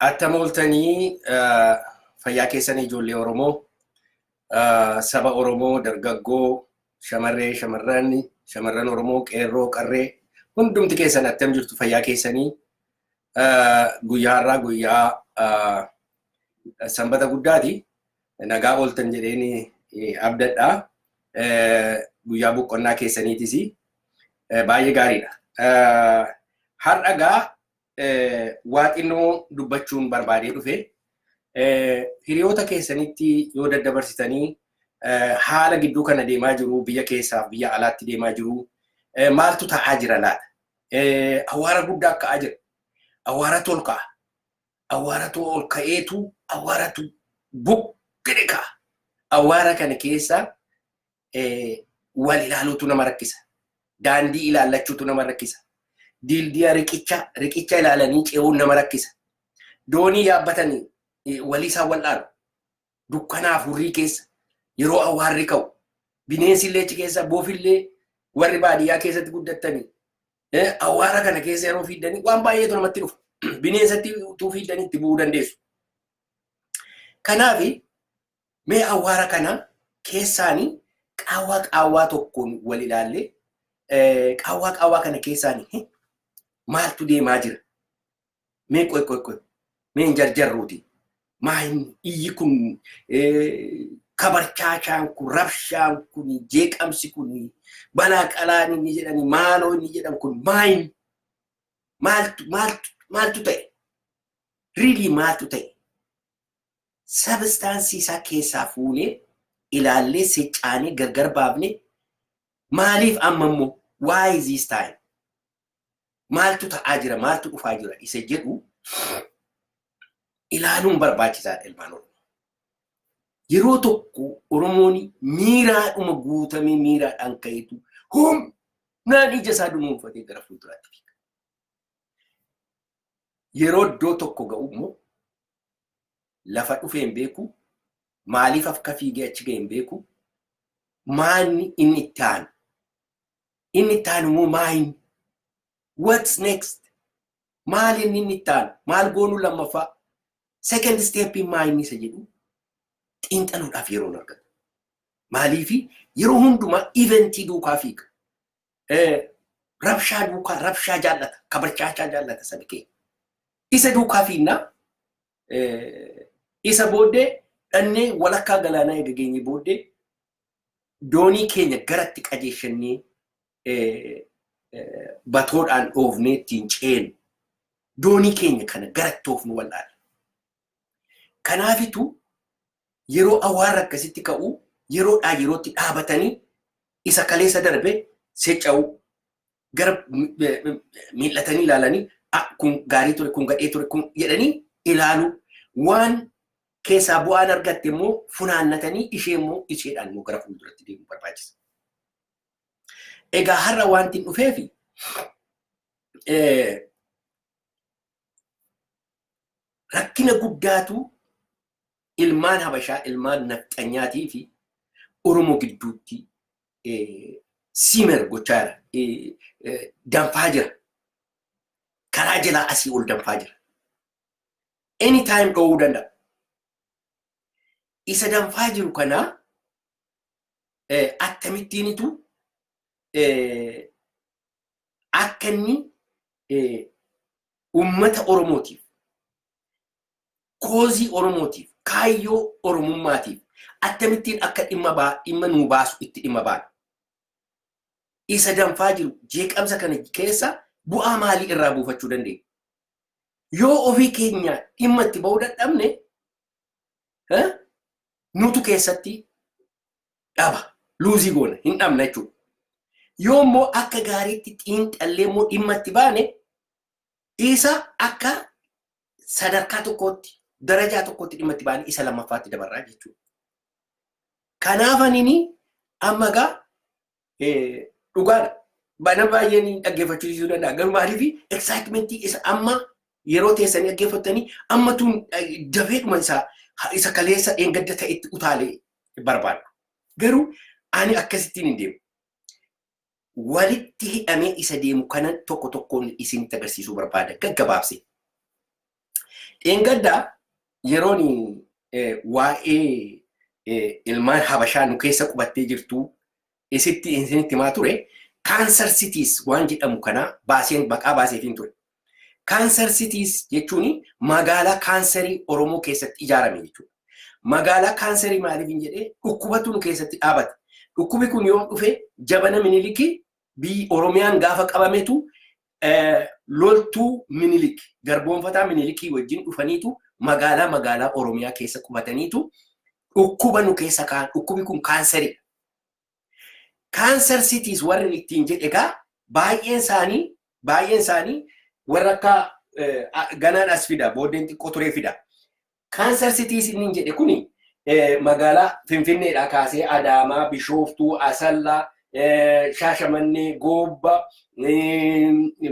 Attam ooltanii fayyaa keessanii ijoollee Oromoo, saba Oromoo, dargaggoo, shamarree, shamarran, shamarran Oromoo, qeerroo, qarree, hundumti keessan attam jirtu fayyaa keessanii guyyaa har'aa guyyaa sanbata guddaati. Nagaa ooltan jedheen abdadhaa. Guyyaa boqonnaa keessaniitis baay'ee gaariidha. Har'a gaa waa xinnoo dubbachuun barbaadee dhufe. Hiriyoota keessanitti yoo daddabarsitanii haala gidduu kana deemaa jiru biyya keessaaf biyya alaatti deemaa jiru maaltu ta'aa jira laata? Awwaara guddaa ka'aa jira. Awwaaratu ol ka'a. Awwaaratu ol ka'eetu awwaaratu buqqee ka'a. Awwaara kana keessa wal ilaaluutu nama rakkisa. Daandii ilaallachuutu nama rakkisa. Diildiya riqicha riqicha ilaalanii ce'uun nama rakkisa. Doonii yaabbatanii walii isaan wal'aalu. Dukkanaa furrii keessa yeroo awwaarri ka'u bineensi illee achi keessa boofillee warri baadiyyaa keessatti guddattanii awwaara kana keessa yeroo fiiddanii waan baay'eetu namatti dhufa. Bineensatti utuu fiiddanii itti bu'uu dandeessu. Kanaaf Mee awwaara kana keessaani qaawwaa qaawwaa tokkoon wal ilaalle qaawwaa qaawwaa kana keessaani maaltu deemaa jira? Mee qoy qoy qoy mee hin jarjarruuti maa hin iyyi kun kabarchaachaan kun rabshaan kun jeeqamsi kun balaa qalaan inni jedhani maaloo inni jedhan kun maa hin maaltu maaltu maaltu ta'e? Riilii maaltu ta'e? sabistaansii isaa keessaa fuunee ilaallee siccaanee gargar baafne maaliif amma immoo why is this time maaltu ta'aa jira maaltu dhufaa jira isa jedhu ilaaluun barbaachisaadha ilmaan oromoo. Yeroo tokko oromoon miiraadhuma guutamee miiraadhaan ka'etu humnaan ija isaa dunuunfatee gara fuulduraatti fiiga. Yeroo iddoo tokko ga'u immoo lafa dhufee hin beeku, maaliif akka fiigee achi ga'e hin beeku, maanni inni itti aanu? Inni itti aanu immoo maa inni? What's next? Maal inni inni itti aanu? Maal goonuu lammaffaa? Second step maa inni isa jedhu xiinxaluudhaaf yeroo hin argatu. Maaliif yeroo hundumaa eventii duukaa fiiga. rabshaa duukaa rabshaa jaallata kabarchaachaa jaallata sabi keenya. Isa duukaa fiinnaa isa booddee dhannee walakkaa galaanaa eega geenye booddee doonii keenya garatti qajeeshannee batoodhaan dhoofnee ittiin ceenu doonii keenya kana garatti oofnu wal'aana. Kanaafitu yeroo awaarri akkasitti ka'u yeroodhaa yerootti dhaabatanii isa kaleessa darbe secca'uu gara miil'atanii ilaalanii kun gaarii ture kun gadhee ture kun jedhanii ilaalu waan keessaa bu'aan argatte immoo funaannatanii ishee immoo isheedhaan immoo gara fuulduratti deemuu barbaachisa. Egaa har'a wanti hin dhufeefi rakkina guddaatu ilmaan habashaa ilmaan nafxanyaatii fi oromoo gidduutti siimer gochaa jira danfaa jira karaa jalaa asii ol danfaa jira any time dhowuu danda'a isa danfaa jiru kanaa akkamittiinitu akka inni uummata Oromootiif, koozii Oromootiif, kaayyoo Oromummaatiif akkamittiin akka dhimma nuu baasu itti dhimma baana. Isa danfaa jiru jeeqamsa kana keessa bu'aa maalii irraa buufachuu dandeenya? Yoo ofii keenya dhimma itti ba'uu dadhabne nutu keessatti dhaba luuzii goona hin dhabna jechuudha. Yoo immoo akka gaariitti xiinxallee immoo dhimma itti baane isa akka sadarkaa tokkootti darajaa tokkootti dhimma itti baane isa lammaffaatti dabarraa jechuudha. Kanaaf anini amma egaa Dhugaadha. Bana baay'een dhaggeeffachiisuu danda'a. Garuu maaliif eksaayitimeentii isa amma yeroo teessanii dhaggeeffattanii amma tun dafeedhuma isaa isa kaleessa dheengadda ta'etti utaalee barbaadu. Garuu ani akkasittiin hin deemu. Walitti hidhamee isa deemu kanan tokko tokkoon isinitti agarsiisuu barbaada gaggabaabsee. Dheengadda yeroon waa'ee ilmaan habashaa nu keessa qubattee jirtu isitti isinitti himaa ture kaansar sitiis waan jedhamu kana baaseen maqaa baaseetiin ture. Kaansar sitiis jechuun magaalaa kaansarii Oromoo keessatti ijaarame jechuudha. Magaalaa kaansarii maaliif hin jedhee dhukkubatu nu keessatti dhaabate. Dhukkubi kun yoo dhufe jabana minilikii biyyi Oromiyaan gaafa qabametu loltuu minilik garboonfataa minilikii wajjin dhufaniitu magaalaa magaalaa Oromiyaa keessa qubataniitu dhukkuba nu keessa kaan dhukkubi kun kaansaridha. Kaansar sitiis warri ittiin jedhe egaa baay'een isaanii baay'een isaanii warra akka ganaan as fida booddeen xiqqoo turee fida. Cancer Cities innin jedhe kuni magaalaa Finfinneedhaa kaasee Adaamaa, Bishooftuu, Asallaa, Shaashamannee, Goobba,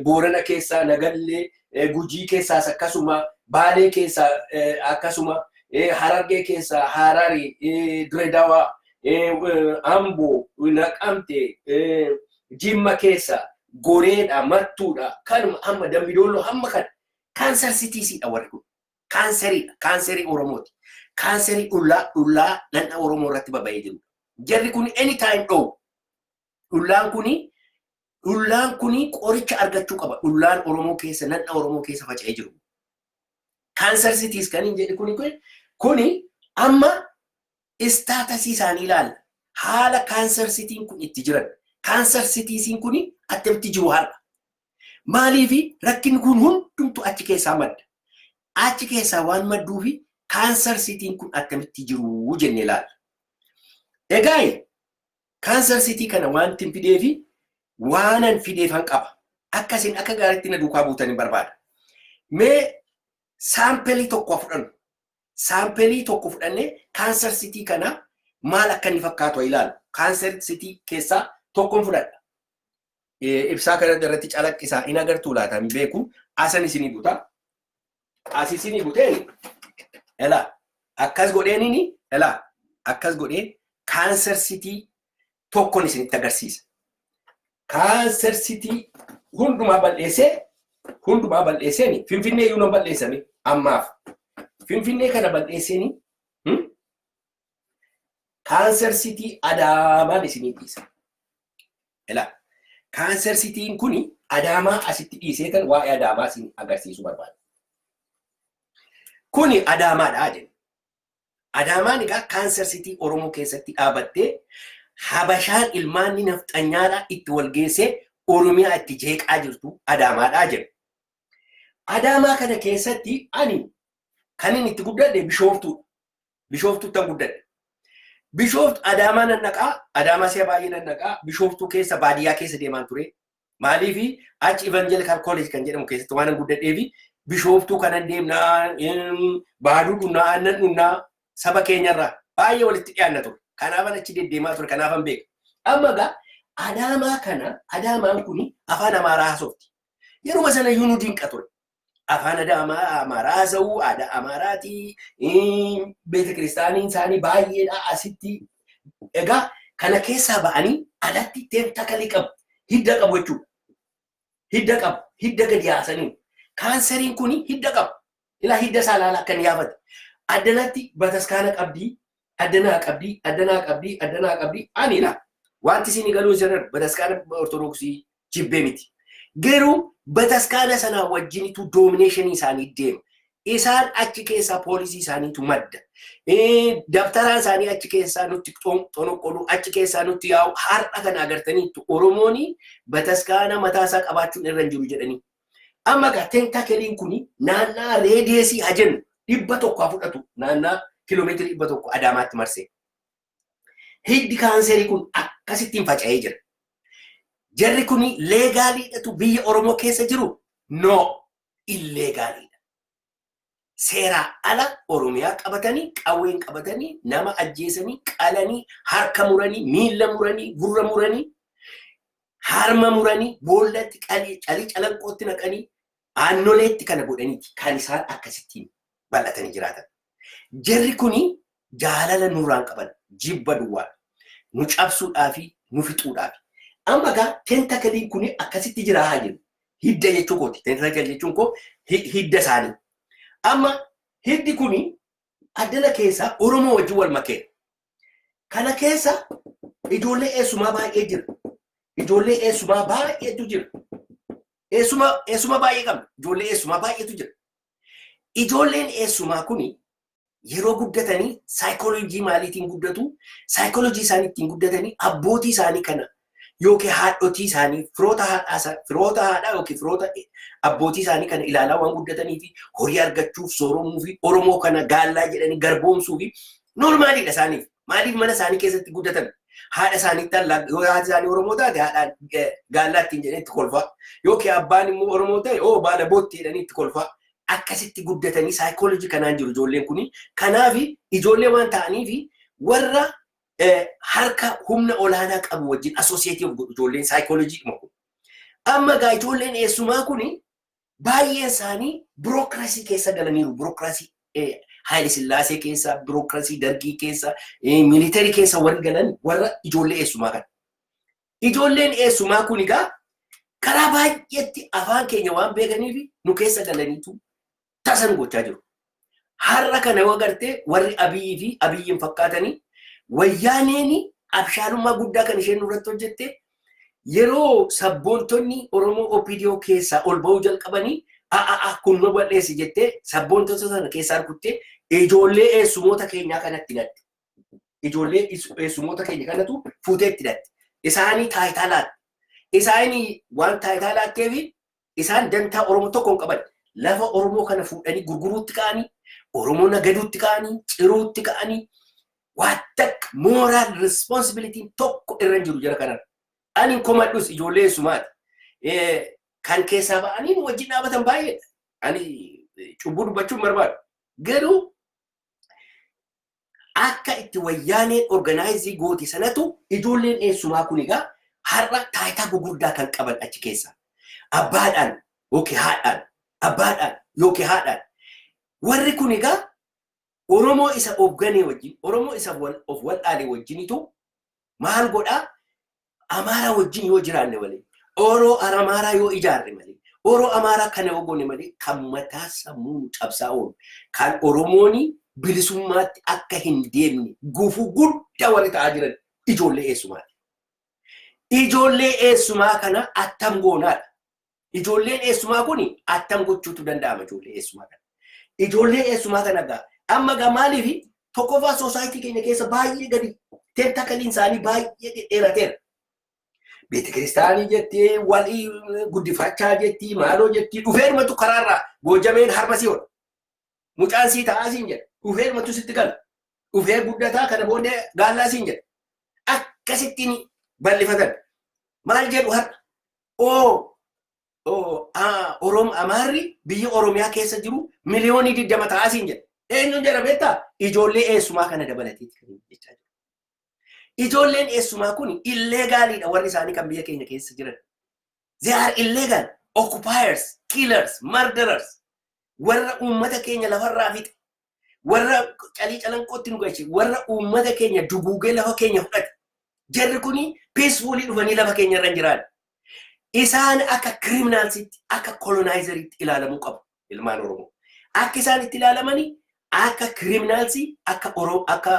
Boorana keessaa Nagallee, Gujii keessaas akkasuma, Baalee keessaa akkasuma, Harargee keessaa Harari, Diredawa, Ambo, Naqamte, Jimma keessa Goreedha, Mattuudha, kanuma hamma Dambi Doolloo hamma kana Cancer Cities dha warri kun. Kaanseriidha. Kaanserii Oromooti. Kaanserii dhullaa dhullaa dhandha Oromoo irratti baba'ee jiru. Jarri kun anytime dhowu. Dhullaan kuni dhullaan kuni qoricha argachuu qaba. Dhullaan Oromoo keessa dhandha Oromoo keessa faca'ee jiru. Kaanser sitiis kan hin jedhe kuni kuni amma Istatasii isaanii ilaalla. Haala Cancer City'n kun itti jiran. Cancer Cities'n kun attamitti jiru har'a? Maaliifi rakkinni kun hundumtu achi keessaa madda? Achi keessaa waan madduufi Cancer City'n kun attamitti jiru jennee ilaalla. Egaa Cancer City kana waantin fideefi waanan fideefan qaba. Akka isin akka gaariitti na duukaa buutan hin barbaada. Mee saampelii tokko haa fudhannu. saampelii tokko fudhannee kaansar sitii kana maal akka inni fakkaatu haa ilaalu. Kaansar sitii keessaa tokkon fudhadha. Eh, Ibsaa kana irratti calaqqisaa hin agartuu laata hin beeku. Asan isinii buta. As isinii buteen elaa akkas godheenini elaa akkas godhee kaansar sitii tokkon isinitti agarsiisa. Kaanser sitii hundumaa bal'eessee hundumaa bal'eesseen finfinnee iyyuu nan bal'eessame ammaaf. Finfinnee kana bal'eesseen kaanser sitii adaamaan isinii dhiisa. Ilaa kaanser sitiin kun adaamaa asitti dhiisee kan waa'ee adaamaa isin agarsiisuu barbaada. Kuni adaamaadha jenna. Adaamaan egaa kaanser sitii Oromoo keessatti dhaabattee Habashaan ilmaanni nafxanyaadhaa itti walgeessee Oromiyaa itti jeeqaa jirtu Adaamaadhaa jedhu. Adaamaa kana keessatti ani kan inni itti guddadhe bishooftuudha. Bishooftuuttan guddadhe. Bishooftu Adaamaa nan dhaqaa, Adaamaa si'a baay'ee nan dhaqaa, Bishooftuu keessa baadiyyaa keessa deemaan ture. Maaliif achi Evangelical College kan jedhamu keessatti waan guddadheef bishooftuu kanan deemnaa baaduu dhunnaa aannan dhunnaa saba keenyarraa baay'ee walitti dhiyaanna ture. Kanaafan achi deddeemaa ture kanaafan beeka. Amma egaa adaamaa kana adaamaan kun afaan amaaraa haasofti. Yeruma sana iyyuu nu dinqa ture. afaan aadaa Amaa- Amaaraa haasa'uu, aadaa Amaaraatii, eh, beeta kiristaaniin isaanii baay'eedha asitti. Egaa kana keessaa ba'anii alatti teentakalii qabu, hidda qabu jechuudha. Hidda qabu, hidda gadi haasaniiru. Kaanseriin kun hidda qabu. Ilaa hidda isaa ilaala akka inni yaafate. Addanatti bataskaana qabdii, adda naa qabdii adda naa qabdii adda naa qabdii ani laa wanti isin galuu jiran bataskaana ortodoksii jibbee miti garuu bataskaana sanaa wajjinitu doomineeshinii isaanii deema isaan achi keessaa poolisii isaaniitu madda dabtaraa isaanii achi keessaa nutti xonoqqoluu achi keessaa nutti yaa'u har'a kana agartaniittu oromooni bataskaana mataa isaa qabaachuun irra hin jiru jedhanii Amma egaa tentakeliin kuni naannaa reediyeesii haa jennu dhibba tokko haa fudhatu naannaa kiiloomeetirii dhibba tokko Adaamaatti marsee. Hiddi kaanserii kun akkasittiin faca'ee jira. Jarri kuni leegaaliidhatu biyya Oromoo keessa jiru? No, illeegaaliidha. seeraa ala Oromiyaa qabatanii qawween qabatanii nama ajjeesanii qalanii harka muranii miila muranii gurra muranii harma muranii boollatti qalii calii calanqootti naqanii aannoleetti kana godhaniiti kan isaan akkasittiin bal'atanii jiraatan. Jarri kuni jaalala nurraan qaban jibba duwwaadha. Nu cabsuudhaafi nu fixuudhaafi. Amma egaa tentakaliin kun akkasitti jira haa jennu. Hidda jechuu kooti. Tentakal jechuun koo hidda isaanii. Amma hiddi kun addana keessaa Oromoo wajjin wal makeera. Kana keessa ijoollee eessumaa baay'ee jira. Ijoollee eessumaa baay'eetu jira. Eessuma baay'ee qabna. Ijoollee eessumaa baay'eetu jira. Ijoolleen eessumaa kun yeroo guddatanii saayikooloojii maaliitiin guddatu saayikooloojii isaanii ittiin guddatanii abbootii isaanii kana yookiin haadhotii isaanii firoota haadhaa firoota haadhaa yookiin firoota abbootii isaanii kana ilaalaa waan guddatanii fi horii argachuuf sooromuu fi oromoo kana gaallaa jedhanii garboomsuu fi noormaaliidha isaaniif maaliif mana isaanii keessatti guddatan haadha isaaniitti allaa yoo haati isaanii oromoo taate haadhaan gaallaa ittiin jedhanii itti kolfaa yookiin abbaan immoo oromoo ta'e oo baala bootti jedhanii itti kolfaa akkasitti guddatanii psychology kanaan jiru ijoolleen kuni. Kanaaf ijoollee waan ta'aniif warra eh, harka humna olaanaa qabu wajjin associate of godhu ijoolleen psychology dhuma kun. Amma egaa ijoolleen eessumaa kuni baay'een isaanii birookiraasii keessa galaniiru. Birookiraasii eh, Haayile Sillaasee keessa, birookiraasii Dargii keessa, eh, miilitarii keessa warri galan warra ijoollee eessumaa kana. Ijoolleen eessumaa kun egaa karaa baay'eetti afaan keenya waan beekaniif nu keessa galaniitu tasa nu gochaa jiru. Har'a kana yoo agartee warri Abiyyi fi Abiyyiin fakkaatanii wayyaaneen abshaalummaa guddaa kan isheen nurratti hojjette yeroo sabboontonni Oromoo OPDO keessaa ol ba'uu jalqabanii a'a'a kun nu bal'eessi jettee sabboontota sana keessaa rukuttee ijoollee eessumoota keenyaa kanatti gatte. Ijoollee is- eessumoota keenya kanatu fuutee itti hidhatte. Isaanii taayitaa laatte. Isaanii waan taayitaa laattee fi isaan dantaa Oromoo tokko hin qaban. Lafa Oromoo kana fuudhanii gurguruutti ka'anii, Oromoo nagaduutti ka'anii, ciruutti ka'anii, waan takka moral responsibility tokko irra hin jiru jara kanarra. Ani hin komadhus ijoollee eessumaati. Eh, Kan keessaa ba'anii nu wajjin dhaabatan baay'eedha. Ani eh, cubbuu dubbachuun barbaadu. Garuu akka itti wayyaaneen organize goote sanatu ijoolleen eessumaa kun egaa har'a taayitaa gugurdaa kan qaban achi keessa abbaadhaan yookiin haadhaan abbaadhaan yookiin haadhaan warri kun egaa Oromoo isa of ganee wajjin Oromoo isa of wal'aalee wajjinitu maal godhaa Amaaraa wajjin yoo jiraanne malee, Oro Aramaaraa yoo ijaarre malee, Oro Amaaraa kana yoo goone malee kan mataa sammuu nu cabsaa oolu, kan Oromoon bilisummaatti akka hin deemne gufuu guddaa warri ta'aa jiran ijoollee eessumaati. Ijoollee eessumaa kana attam goonaadha. Ijoolleen eessumaa kun attam gochuutu danda'ama ijoollee eessumaa kana. Ijoollee eessumaa kana gaa amma gaa maaliif tokkoffaa soosaayitii keenya keessa baay'ee gadi tentakaliin isaanii baay'ee dhedheerateera. Beeti kiristaanii jettee walii guddifachaa jettii maaloo jettii dhufeermatu karaarraa goojameen harma si hodha. Mucaan sii ta'aa siin jedha. Dhufeermatu sitti gala. Dhufee guddataa kana booddee gaallaa siin jedha. Akkasittiin bal'ifatan. Maal jedhu har'a? oo oo, a- Orom Amaarri biyya Oromiyaa keessa jiru miliyoonii digdama ta'aa siin jedha. Eenyuun jedha beektaa? Ijoollee eessumaa kana dabalateeti kan inni jechaa jiru. Ijoolleen eessumaa kun illeegaaliidha warri isaanii kan biyya keenya keessa jiran. They are illegal, occupiers, killers, murderers. Warra uummata keenya lafarraa fixe, warra calii calanqootti nu galche warra uummata keenya duguugee lafa keenya fudhate jarri kun peesfuulii dhufanii lafa keenya irra hin jiraan isaan akka kiriminaalsitti akka kolonaayizeeritti ilaalamuu qabu ilmaan oromoo akka isaan itti ilaalamanii akka kiriminaalsii akka oro- akka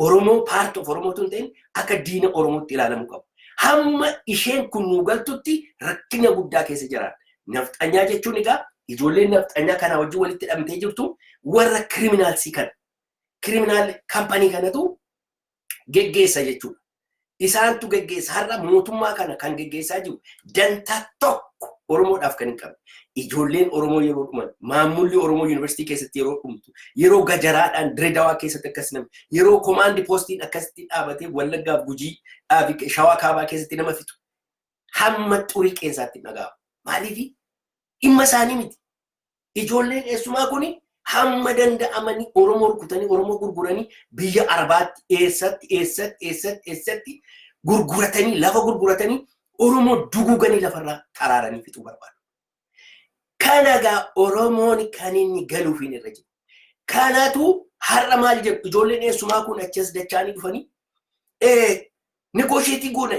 oromoo paart of oromoo tun ta'in akka diina oromootti ilaalamuu qabu hamma isheen kun nu galtutti rakkina guddaa keessa jiraan Nafxanyaa jechuun egaa ijoolleen nafxanyaa kanaa wajjin walitti hidhamtee jirtu warra kiriminaalsii kana. Kiriminaal kampanii kanatu geggeessa jechuudha. Isaantu geggeessa har'a mootummaa kana kan geggeessaa jiru dantaa tokko Oromoodhaaf kan hin qabne. Ijoolleen Oromoo yeroo dhuman, maammulli Oromoo yuunivarsiitii keessatti yeroo dhumtu, yeroo gajaraadhaan diredawaa keessatti akkas nama, yeroo komaandi poostiin akkasitti dhaabatee wallaggaaf gujii dhaabi shawaa kaabaa keessatti nama fixu. hamma xurii qeensaatti hin dhaga'amu. Maaliif dhimma isaanii miti. Ijoolleen eessumaa kun hamma danda'amanii Oromoo rukutanii Oromoo gurguranii biyya Arabaatti eessatti eessatti eessatti eessatti gurguratanii lafa gurguratanii Oromoo duguuganii lafarraa xaraaranii fixuu barbaadu. Kanagaa Oromoon kan inni galuuf hin irra jiru. Kanaatu har'a maal jedhu ijoolleen eessumaa kun achas dachaanii dhufanii negoosheetii goona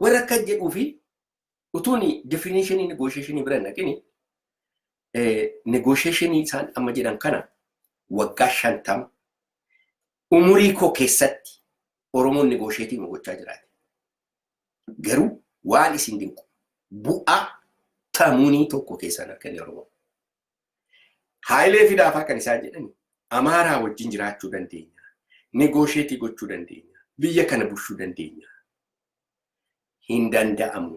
Warra akka jedhuu fi utuun definishinii negoosheeshinii bira hin dhaqini negoosheeshinii isaan amma jedhan kana waggaa shantama umurii koo keessatti Oromoon negoosheetii nu gochaa jiraate. Garuu waan isin dinqu bu'aa tamuunii tokko keessaan akka inni Oromoo. Haayilee fi Daafaa kan isaan jedhan Amaaraa wajjin jiraachuu dandeenya. Negoosheetii gochuu dandeenya. Biyya kana bulchuu dandeenya. Hin danda'amu.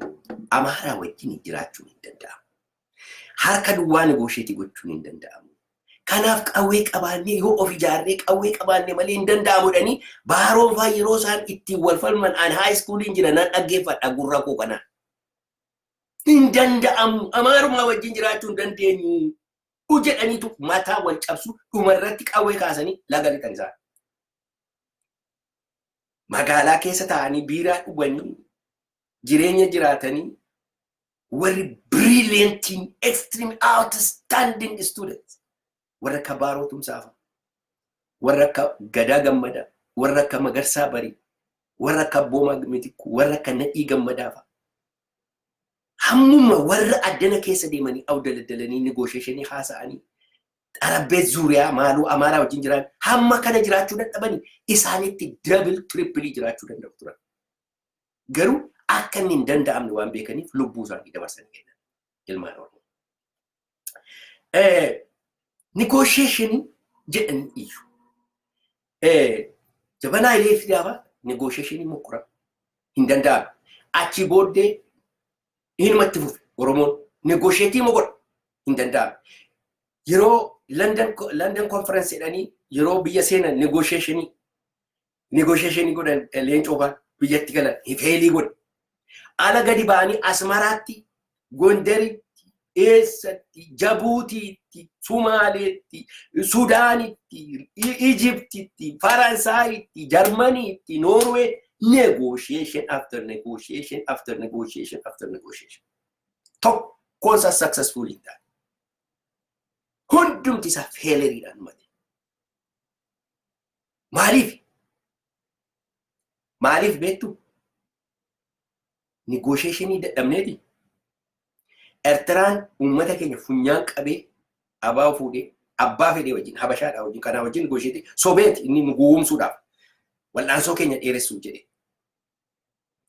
Amaaraa wajjin jiraachuun hin danda'amu. Harka duwwaa negoosheetii gochuun hin danda'amu. Kanaaf qawwee qabaannee yoo of ijaarree qawwee qabaannee malee hin danda'amu jedhanii baaroon fa'aa yeroo isaan ittiin wal falman aan haayiskuuliin jira nan dhaggeeffadha gurra koo kanaan. hin danda'amu amaarumaa wajjin jiraachuu hin dandeenyu u jedhaniitu mataa wal cabsu dhuma irratti qawwee kaasanii laga lixan isaan. Magaalaa keessa taa'anii biiraa dhuganii jireenya jiraatanii warri brilliantiin extreme outstanding students warra akka Baaroo Tumsaafa, warra akka Gadaa Gammadaa, warra akka Magarsaa Barii, warra akka Abboomaa Mitikkuu, warra akka Nadhii Gammadaafa. Hammuma warra addana keessa deemanii awdaladdalanii nigoosheeshinii haasa'anii xarabbee zuuriyaa maaloo amaaraa wajjin jiraan hamma kana jiraachuu dadhabanii isaanitti dabil tirippilii jiraachuu danda'u turan. Garuu akka inni hin danda'amne waan beekaniif lubbuu isaanii dabarsanii kennan ilmaan Oromoo. Negoosheeshinii jedhanii iyyu. Jabanaa ilee fi gaafa negoosheeshinii mokkora hin danda'amu. Achii booddee hinumatti fufe Oromoon negoosheetii mokkora hin danda'amu. Yeroo London Conference jedhanii yeroo biyya seenan negoosheeshinii negotiation godhan leencoo faa biyyatti galan feelii godhe. Ala gadi ba'anii Asmaraatti, Gondaritti, eessatti, Jabuutiitti, Sumaaleetti, Sudaanitti, Ijiptitti, Faransaayitti, Jarmaniitti, Noorwee negotiation after negotiation after negotiation after negotiation. Tokkoon isaa successful hin taane. Hundumti isaa feeleriidhaan mate. Maaliif? Maaliif beektu? Nigoosheeshinii dadhabneeti. Ertiraan uummata keenya funyaan qabee abaa fuudhee abbaa fedhee wajjin habashaadhaa wajjin kanaa wajjin nigoosheetii sobeeti inni nu gowwoomsuudhaaf wal'aansoo keenya dheeressuuf jedhe.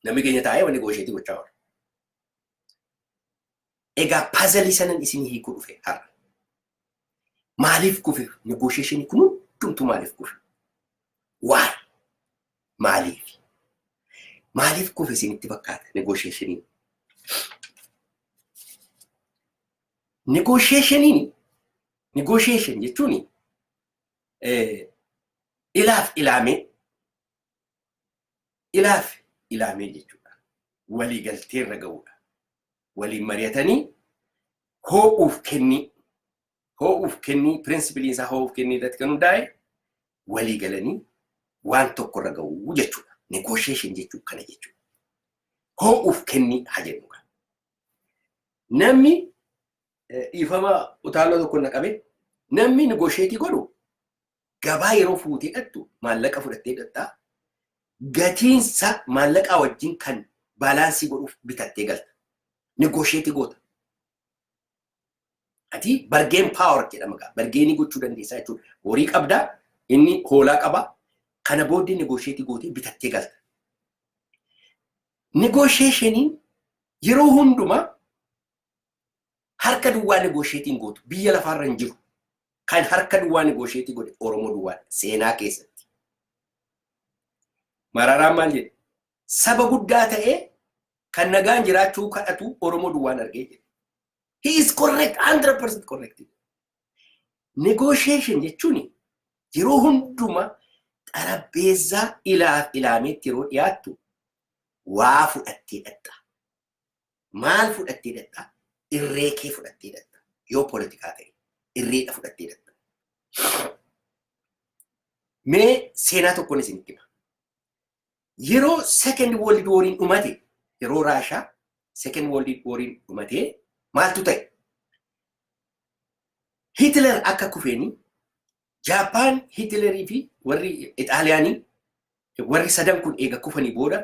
Namni keenya taa'ee wani goosheetii gochaa oola. Egaa puzzle sanan isinii hiikuu dhufe har'a. Maaliif kufe negotiation kun hundumtuu maaliif kufe? Why? Maaliif? Maaliif kufe isinitti fakkaata negotiationiin? Negotiationiin negotiation jechuun ilaaf ilaamee ilaaf ilaamee jechuudha. Walii galtee irra ga'uudha. Waliin mari'atanii hoo'uuf kennii hoo'uuf kennii pirinsipiliin isaa hoo'uuf kennii irratti kan hundaa'e walii galanii waan tokko irra ga'uu jechuudha. Negotiation jechuun kana jechuudha. Hoo'uuf kennii haa jennu kan. Namni eh, dhiifama utaaloo tokko na qabe namni negotiate godhu gabaa yeroo fuutee dhaqxu maallaqa fudhattee dhaqxa. Gatiinsa maallaqaa wajjin kan baalaansii godhuuf bitattee galta. Negoosheetii goota. Ati bargeen paawar jedhama gaa. Bargeenii gochuu dandeessaa jechuudha. Horii qabdaa, inni hoolaa qaba. Kana booddee negoosheetii gootee bitattee galta. Negoosheeshiniin yeroo hundumaa Harka duwwaa negoosheetii hin gootu. Biyya lafaarra hin jiru. Kan harka duwwaa negoosheetii godhe Oromoo duwwaadha. Seenaa keessatti. Mararaan maal jedhe? Saba guddaa ta'ee kan nagaan jiraachuu kadhatu Oromoo duwwaan argee jedhe. He is correct, 100% correct. Negotiation jechuun yeroo hundumaa xarapheezzaa ilaaf ilaameetti yeroo dhiyaattu waa fudhattee dhaqxa. Maal fudhattee dadhaa? Irree kee fudhattee dadha. Yoo poolitikaa ta'e irreedha fudhattee dadha. Mee seenaa tokkoon isinitti hima. Yeroo second world wariin dhumate yeroo Raashaa second world wariin dhumate maaltu ta'e? Hitler akka kufeeni Jaappaan Hitlerii fi warri Ixaaliyaanii warri sadan kun eega kufanii booda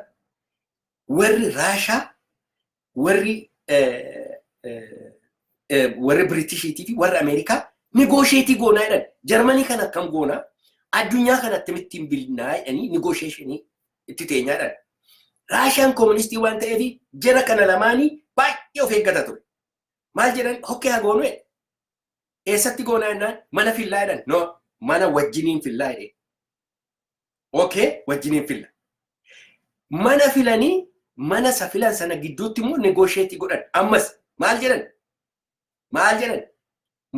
warri Raashaa warri warri Biritishiitii fi warri Ameerikaa nigoosheetii goonaa jedhan. Jarmanii kana akkam goonaa? Addunyaa kana akkamitti hin bilnaa jedhanii nigoosheeshinii itti teenyaa jedhan. Raashaan kooministii waan ta'eef jara kana lamaanii baay'ee of eeggata ture. Maal jedhan hokkee haa goonuu jedhan. Eessatti goonaa jennaan mana fillaa jedhan. No mana wajjiniin fillaa jedhee. okay wajjiniin filla mana filanii mana isa filan sana gidduutti immoo negoosheetii godhan ammas maal jedhan maal jedhan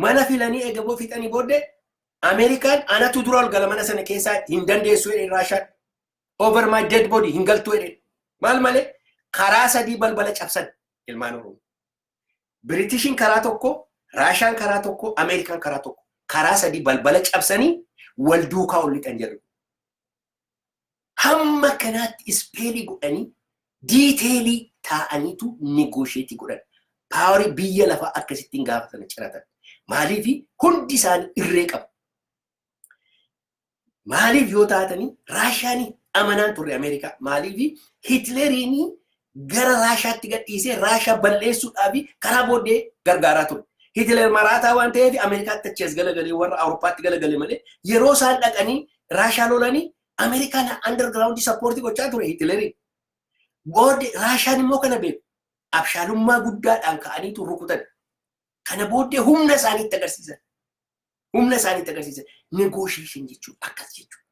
mana filanii eega boo fixanii booddee Ameerikaan anatu dura ol gala mana sana keessaa hin dandeessu jedhee Raashaan over my dead body hin galtu jedhee maal malee karaa sadii balbala cabsan ilmaan Oromoo. Biritishiin karaa tokko, Raashaan karaa tokko, Ameerikaan karaa tokko. Karaa sadii balbala cabsanii wal duukaa ol lixan jedhu. Hamma kanaatti ispeelii godhanii diiteelii taa'aniitu negoosheetii godhan. Paawarii biyya lafaa akkasittiin gaafatame ciratan. Maaliif hundi isaanii irree qabu. Maaliif yoo taatanii Raashaanii amanaan turre Ameerikaa maaliif Hitleriinii gara Raashaatti gadhiisee Raashaa balleessuudhaa fi karaa booddee gargaaraa ture. Hitler maraataa waan ta'eef Ameerikaatti achi as galagalee warra Awurooppaatti galagale malee yeroo isaan dhaqanii Raashaa lolanii Ameerikaan underground sappoortii gochaa ture Hitleriin. Booddee Raashaan immoo kana beeku. Abshaalummaa guddaadhaan ka'aniitu rukutan. Kana booddee humna isaaniitti agarsiisan. humna isaanii itti agarsiisan negotiation jechuun akkas jechuudha.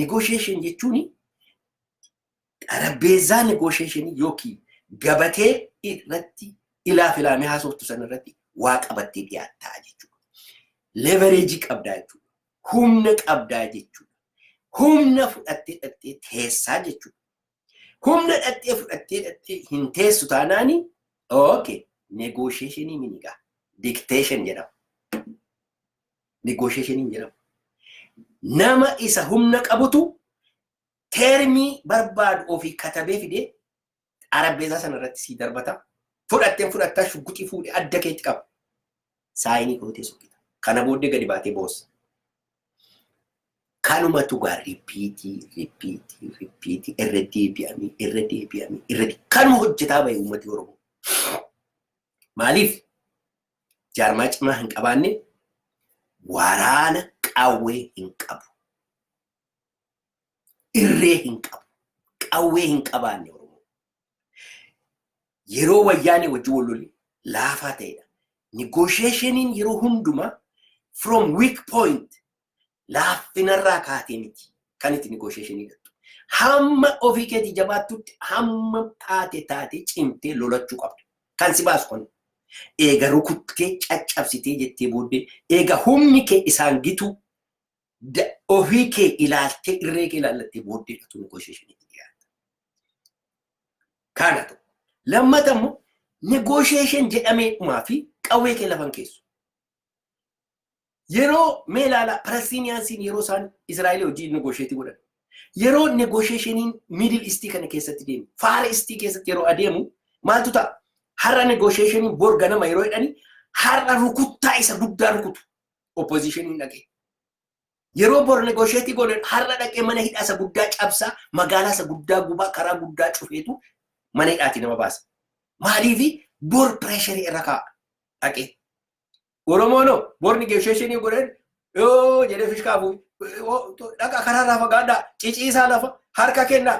Negotiation jechuun xarabbeezzaa negotiation yookiin gabatee irratti ilaa filaamee haasoftu sana irratti waa qabattee dhiyaattaa jechuudha. Levereejii qabdaa jechuudha. Humna qabdaa jechuudha. Humna fudhattee dhattee teessaa jechuudha. Humna dhattee fudhattee dhattee hin teessu taanaani ooke negoosheeshinii minigaa dikteeshin jedhama. Negoosheeshiniin jedhama. Nama isa humna qabutu teermii barbaadu ofii katabee fidee xarabbeesaa sana irratti sii darbata. Fudhatteen fudhattaa shugguxii fuudhee adda keetti qaba. saayinii kootee soqita. Kana booddee gadi baatee boossa. Kanumatu gaa ripiitii ripiitii ripiitii irra deebi'amee irra deebi'amee irra kanuma hojjetaa bahe uummati Oromoo. Maaliif jaarmaa cimaa hin qabaanne waraana qawwee hin qabu. Irree hin qabu. Qawwee hin qabaanne Oromoo. yeroo wayyaanee wajjin wal lole laafaa ta'edha. Negotiationiin yeroo hundumaa from weak point laaffinarraa kaatee miti kan itti negotiationii gattu. Hamma ofii keetii jabaattutti hamma taate taate cimtee lolachuu qabda. Kan si baasu kun eega rukuttee caccabsitee jettee booddee eega humni kee isaan gitu ofii kee ilaaltee irree kee ilaallattee booddee dhatu negoosheeshinii itti dhiyaata. Kaana ta'u. Lammata immoo negoosheeshin jedhamee dhumaa fi qawwee kee lafan keessu. Yeroo mee ilaala Palestiniyaansiin yeroo isaan Israa'el hojii negoosheetii godhan. Yeroo negoosheeshiniin Miidil Istii kana keessatti deemu, Faara Istii keessatti yeroo adeemu maaltu ta'a? Har'a negoosheeshiniin bor ganama yeroo jedhani har'a rukuttaa isa guddaa rukutu. opposition dhaqee. Yeroo bor negoosheetii goone har'a dhaqee mana hidhaa isa guddaa cabsaa magaalaa isa guddaa gubaa karaa guddaa cufeetu mana hidhaatii nama baasa. Maaliifi bor pireesharii irra kaa'a dhaqee. Oromoon hoo bor negoosheeshinii godheen yoo jedhee fishkaa fuudhe dhaqa karaarraa fagaadhaa ciciisaa lafa harka kennaa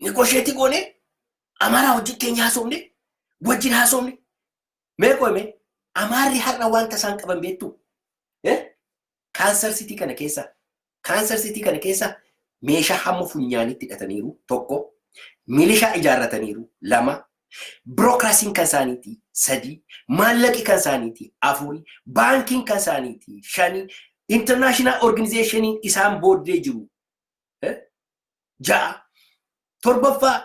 Negosheetii goonee Amaaraa wajjin keenya haasofne wajjin haasofne mee qoyme Amaarri har'a wanta isaan qaban beektu kaansar sitii kana keessa kaansar sitii kana keessa meeshaa hamma funyaanitti hidhataniiru tokko milishaa ijaarrataniiru lama birookiraasiin kan isaaniiti sadii maallaqi kan isaaniiti afurii baankiin kan isaaniiti shanii intarnaashinaal orgaanizeeshiniin isaan booddee jiru ja'a torbaffaa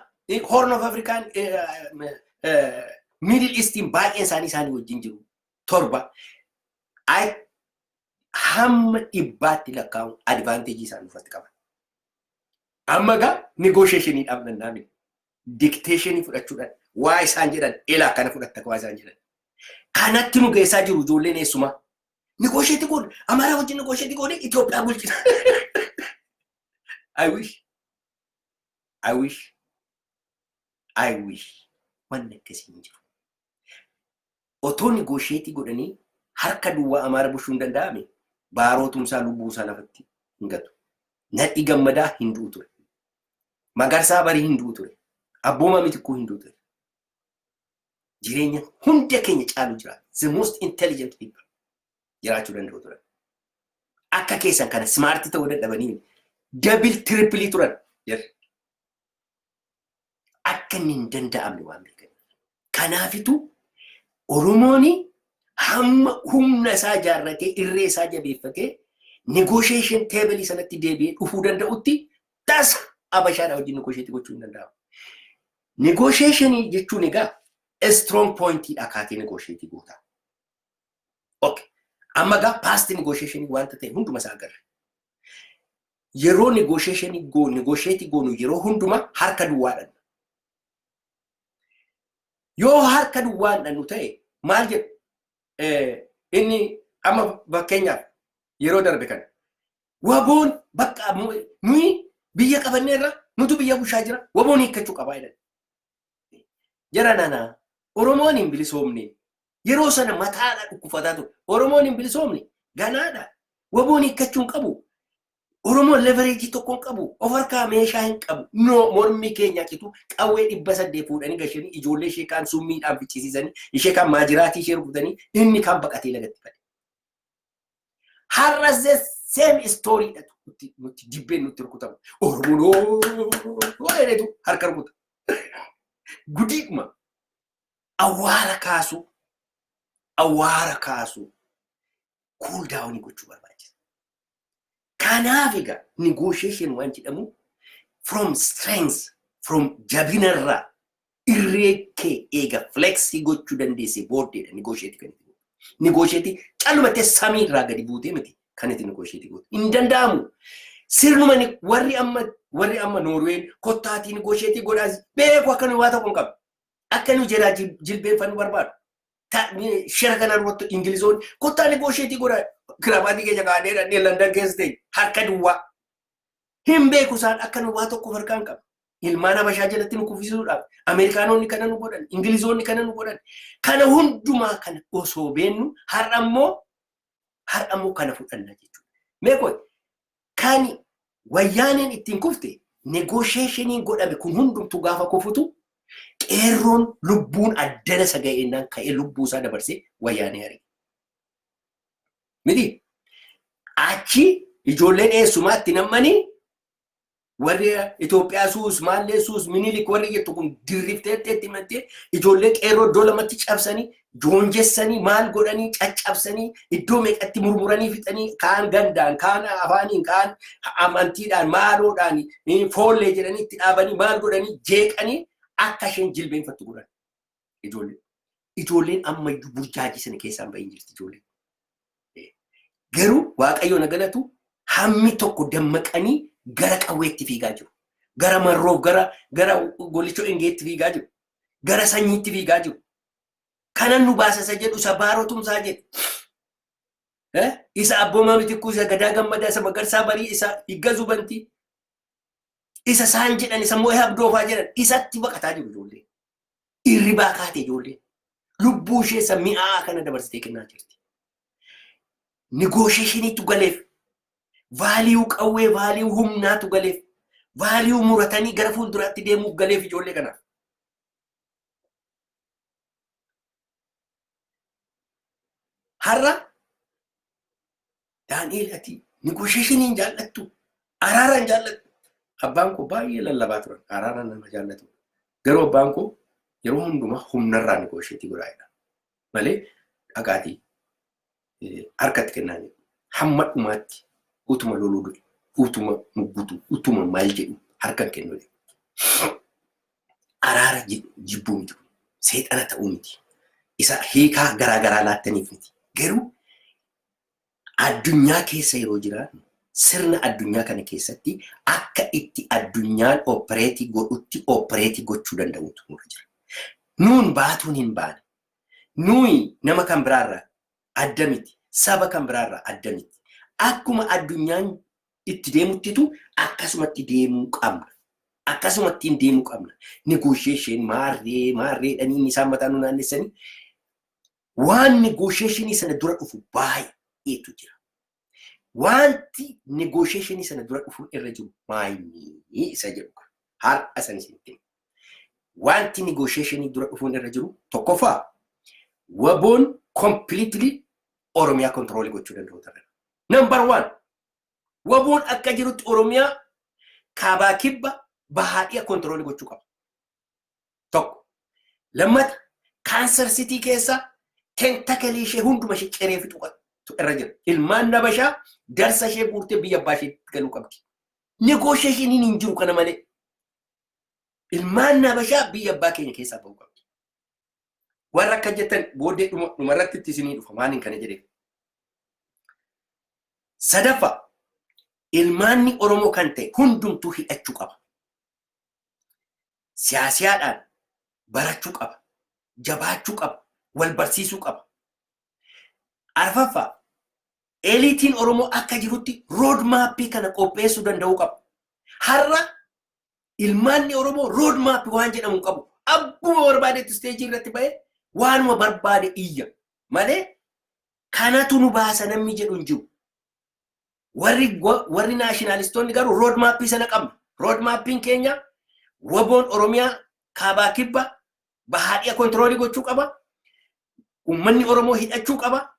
horn of afrikaan miidil istiin baay'een isaanii isaanii wajjin jiru torba hamma dhibbaatti lakkaa'uun advaanteejii isaan irratti qaban. Amma egaa negoosheeshinii dhaabnan naamni dikteeshinii fudhachuudhaan waa isaan jedhan ilaa kana fudhatta waa isaan jedhan. Kanatti nu geessaa jiru ijoolleen eessumaa Negoosheetii goone. Amaaraa wajjin negoosheetii goone Itoophiyaa bulchina. I wish. I wish. I wish. Wanni akkasii hin jiru. Otoo negoosheetii godhanii harka duwwaa Amaara bulchuu hin danda'ame baarootumsaa lubbuusaa lafatti hin gatu. Nadhi gammadaa hin du'u ture. Magarsaa barii hin du'u ture. Abboomaa mitikkuu hin du'u ture. jireenya hunda keenya caalu jiraata. The most intelligent people jiraachuu danda'u turan. Akka keessan kana smaartii ta'uu dadhabanii dabil tirippilii turan jirri. Akka inni hin danda'amne waan beekan. Kanaafitu Oromoon hamma humna isaa ijaarratee irree isaa jabeeffatee negotiation table sanatti deebi'ee dhufuu danda'utti tasa abashaadha wajjin negotiate gochuu hin danda'amu. Negotiation jechuun egaa strong point dha kaatee negotiate goota. Okay. Amma egaa past negotiation wanta ta'e hunduma isaa agarre. Yeroo negotiation go negotiate goonu yeroo hunduma harka duwwaadhaan. Yoo harka duwwaadhaan nu ta'e maal jedhu? Inni amma fakkeenyaaf yeroo darbe kana Waboon bakka nuyi biyya qabannee irra nutu biyya bushaa jira waboon hiikkachuu qabaa jedhan. Jara nana Oromoon hin bilisoomne yeroo sana mataadha dhukkufataa ture. Oromoon hin bilisoomne ganaadha waboon hiikkachuu hin qabu. Oromoon levereejii tokko hin qabu of harkaa meeshaa hin qabu. No mormii keenyaa citu qawwee dhibba saddeet fuudhanii gashanii ijoollee ishee kaan summiidhaan ficcisiisanii ishee kaan maajiraatii ishee rukutanii inni kaan baqatee lagatti bade. Har'as the same story dhatu nutti nutti dibbeen nutti rukutamu. Oromoon jedhetu harka rukuta. Gudiidhuma awwaara kaasuu awwaara kaasuu kuul daawunii gochuu barbaachisa. Kanaaf egaa negotiation waan jedhamu from strength, from jabinarraa irree kee eega flexii gochuu dandeessee booddeedha negotiate kan itti gootu. Negotiate callumattee samii irraa gadi buutee miti kan itti negotiate gootu. Hin danda'amu. Sirnuma ni- warri amma warri amma Noorween kottaatii negotiate godhaas beeku akka nu waa tokko hin qabne. Akka nu jalaa jil- jilbeenfannu barbaadu. shira kana irratti Ingilizoonni kottaa negoosheetii godha kiraabaatii keenya kaa'anii dhadhee Landan keessa ta'e harka duwwaa. Hin beeku isaan akka nu waa tokko harkaan qabu. Ilmaan Habashaa jalatti nu kuffisuudhaaf Ameerikaanonni kana nu godhan, Ingilizoonni kana nu godhan. Kana hundumaa kana osoo beennu har'a immoo har'a immoo kana fudhanna jechuudha. Meekoon Kan wayyaaneen ittiin kufte negoosheeshiniin godhame kun hundumtuu gaafa kufutu qeerroon lubbuun addana isa ga'eennaan ka'ee lubbuu isaa dabarsee wayyaanee ari'e. Miti achi ijoolleen eessumaatti nammanii warri Itoophiyaa suus maallee suus minilik warri jettu kun dirrifteetti itti mattee ijoollee qeerroo iddoo lamatti cabsanii joonjessanii maal godhanii caccabsanii iddoo meeqatti murmuranii fixanii kaan gandaan kaan afaaniin kaan amantiidhaan maaloodhaan eh, foollee jedhanii itti dhaabanii maal godhanii jeeqanii akka isheen jilbeenfattu godhan ijoollee. Ijoolleen ammayyuu burjaajii sana keessaan bahin jirti ijoolleen. Eh, Garuu waaqayyoon na galatu hammi tokko dammaqanii gara qawweetti fiigaa jiru. Gara marroof gara gara golichoo engeetti fiigaa jiru. Gara sanyiitti fiigaa jiru. kanan nu baasa isa jedhu isa baaroo tumsaa jedhu Eh? isa abboomaa mitikkuu isa gadaa gammadaa isa magarsaa barii isa higga zubantii isa isaan jedhan isa moo'ee abdoofaa jedhan isatti baqataa jiru ijoollee irribaa kaate ijoollee lubbuu ishee isa mi'aa kana dabarsitee kennaa jirti nigoosheeshiniitu galeef vaaliyuu qawwee vaaliyuu humnaatu galeef vaaliyuu muratanii gara fuulduraatti deemuuf galeef ijoollee kanaaf Har'a Daani'eel ati negoosheeshiniin jaallattu araaraan jaallattu. Abbaan koo baay'ee lallabaa turan araaraan nama jaallatu. Garuu abbaan koo yeroo hundumaa humnarraa negoosheetii godhaadha. Malee dhaqaatii harkatti kennaa jiru. Hamma dhumaatti utuma loluu du'e, utuma muggutu, utuma maal jedhu harkan kennu jedhu. Araara jedhu jibbuu miti kun. Seexana ta'uu miti. Isa hiikaa garaa garaa laattaniif miti. Garuu addunyaa keessa yeroo jiraannu sirna addunyaa kana keessatti akka itti addunyaan oopereetii godhutti oopereetii gochuu danda'utu nurra jira. Nuun baatuun hin baane. Nuyi nama kan biraa irraa adda miti, saba kan biraa irraa adda miti. Akkuma addunyaan itti deemuttitu akkasumatti deemuu qabna. Akkasumattiin deemuu qabna. Negotiation maarree maarreedhanii isaan mataa nu naannessanii waan negotiationii sana dura dhufu baay'eetu jira. Wanti negotiation sana dura dhufuun irra jiru maayini isa jedhu kan har'a san isinitti hima. Wanti negotiation dura dhufuun irra jiru tokkoffaa waboon completely Oromiyaa control gochuu danda'u ta'a. Number one waboon akka jirutti Oromiyaa kaabaa kibba bahaa dhiya control gochuu qaba. Tokko. Lammata kaanser sitii keessa tentakalii ishee hunduma ishee ciree fixuu qaba. irra jira. Ilmaan nabashaa darsa ishee guurtee biyya abbaa isheetti galuu qabdi. Negoosheeshiniin hin jiru kana malee. Ilmaan nabashaa biyya abbaa keenya keessaa bahuu qabdi. Warra akka jettan booddee dhuma dhuma irratti itti isinii dhufa maaliin kana jedheef. Sadaffaa ilmaanni Oromoo kan ta'e hundumtuu hidhachuu qaba. siyaasiyaadhaan barachuu qaba, jabaachuu qaba, wal barsiisuu qaba. Arfaffaa, eliitiin Oromoo akka jirutti rood maappii kana qopheessuu danda'uu qaba. Har'a ilmaanni Oromoo rood maappi waan jedhamu qabu. Abbuma barbaadetti isteejii irratti ba'ee waanuma barbaade iyya malee kanatu nu baasa namni jedhu hin jiru. Warri wa- warri naashinaalistoonni garuu rood maappii sana qabna. Rood maappiin keenya waboon Oromiyaa kaabaa kibba bahaa dhiya kontiroolii gochuu qaba. Uummanni Oromoo hidhachuu qaba.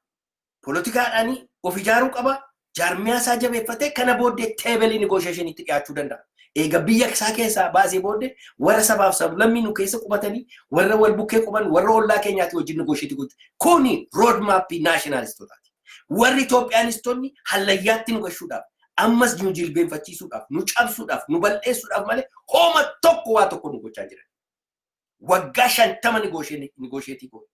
Poolitikaadhaan of ijaaruu qaba. Jaarmiyaa isaa jabeeffatee kana booddee teebelii nigoosheeshiniitti dhiyaachuu danda'a. Eega biyya isaa keessaa baasee booddee warra sabaaf sablammii nu keessa qubatanii warra wal bukkee quban warra ollaa keenyaatti wajjin nigoosheetii gochuu. Kuni rood maappii naashinaalistotaati. Warri Itoophiyaanistonni hallayyaatti nu gashuudhaaf, ammas nu jilbeenfachiisuudhaaf, nu cabsuudhaaf, nu bal'eessuudhaaf malee hooma tokko waa tokko nu gochaa jiran. Waggaa shantama nigoosheetii goone.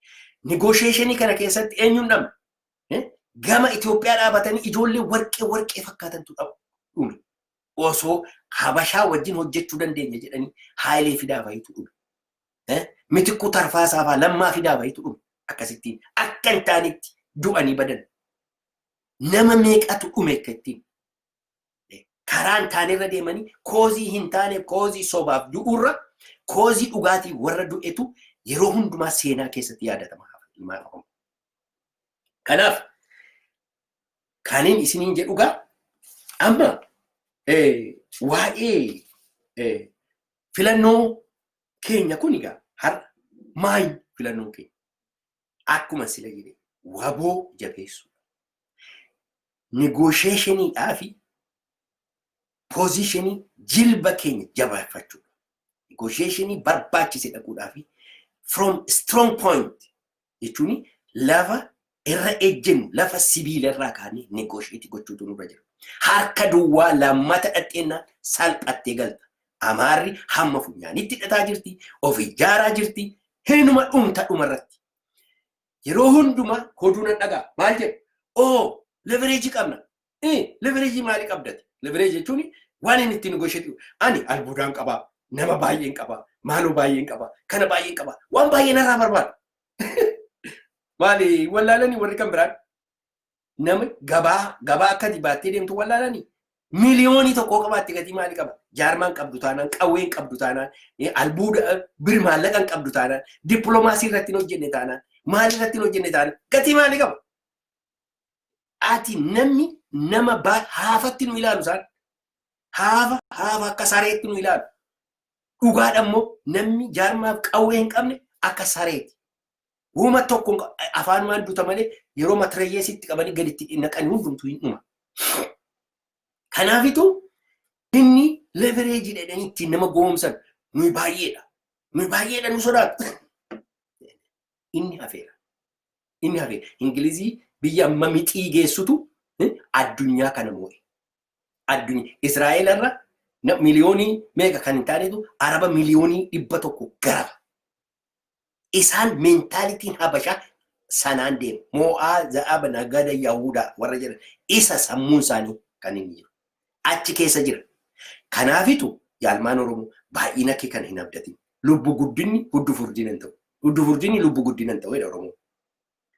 Nigoosheeshinii kana keessatti eenyuun dhabne? Gama Itoophiyaa dhaabatanii ijoollee warqee warqee fakkaatantu dhabu dhume. Osoo Habashaa wajjin hojjechuu dandeenya jedhanii Haayilee Fidaa fa'iitu dhume. Mitikkuu Tarfaasaa fa'aa lammaa fidaa fa'itu dhume akkasittiin akka hin taanetti du'anii badan. Nama meeqatu dhume akka ittiin karaa hin taanerra deemanii koozii hin taane koozii sobaaf du'uurra koozii dhugaatii warra du'etu yeroo hundumaa seenaa keessatti yaadatama ilmaan Oromoo. Kanaaf kanin isiniin jedhu gaa amma waa'ee Filannoo keenya kun egaa har'a maayi filannoo keenya? Akkuma sila jedhe waboo jabeessuu. Negoosheeshiniidhaa fi poozishinii jilba keenya jabeeffachuu. Negoosheeshinii barbaachise dhaquudhaa fi from strong point jechuun lafa irra ejjennu lafa sibiila irraa kaanee negoosheetii gochuutu nurra jira. Harka duwwaa lammata dhadheennaan salphattee galta. Amaarri hamma funyaanitti hidhataa jirti, of ijaaraa jirti, hinuma dhumta dhumarratti. Yeroo hundumaa oduu nan dhagaa maal jedhu? Oo levereejii qabna. Levereejii maalii qabdati? Levereejii jechuun waan inni ittiin goosheetu ani albuudaan qabaa, nama baay'een qabaa, maaloo baay'een qabaa, kana baay'een qabaa, waan baay'ee narraa barbaada. Maali wallaalanii warri kan biraan nama gabaa gabaa akkati baattee deemtu wallaalanii miliyoonii tokkoo qabaatte gatii maalii qaba? Jaarmaan qabdu taanaan, qawween qabdu taanaan, albuuda bir maallaqan qabdu taanaan, dippiloomaasii irratti hin hojjenne taanaan, maalii irratti hin hojjenne taanaan gatii maalii qaba? ati namni nama ba- haafatti nu ilaalu isaan haafa haafa akka sareetti nu ilaalu dhugaadha immoo namni jaarmaaf qawwee hin qabne akka sareeti Wuma tokko hin qa- afaanumaan duta malee yeroo matirayyeesitti qabanii gaditti naqanii hundumtu hin dhuma. Kanaafitu inni levereejii jedhanii ittiin nama goomsan nuyi baay'eedha. Nuyi baay'eedha nu sodaatu. Inni hafeera. Inni hafe Ingilizii biyya amma mixii geessutu eh, addunyaa kana moo'e. Addunyaa Israa'el irra na- miliyoonii meeqa kan hin taanetu araba miliyoonii dhibba tokko garaba. Isaan meentaalitiin habashaa sanaan deema. Moo'aa za'aba nagada yahudaa warra jedhan isa sammuun isaanii kan inni jiru. Achi keessa jira. Kanaafitu yaa ilmaan Oromoo baay'ina kee kan hin abdatin. Lubbu guddinni huddu furdina hin ta'u. Huddu furdinni lubbu guddina hin ta'u jedha Oromoon.